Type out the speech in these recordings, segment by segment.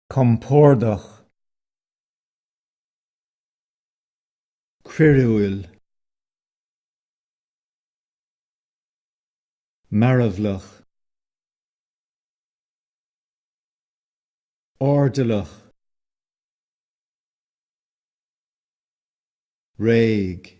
compordach, croíúil, mearbhlach, airdeallach, réidh.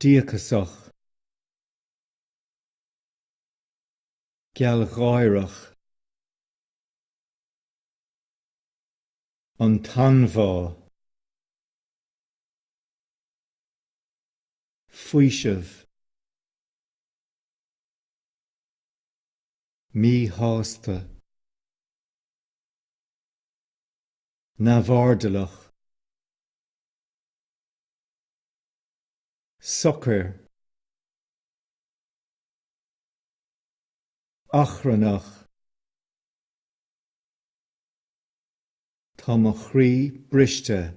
Díocasach. Gealgháireach. An t-anbhá. Faoiseamh. Míshásta. neamh-airdeallach, socair, achrannach Tá mo chroí briste.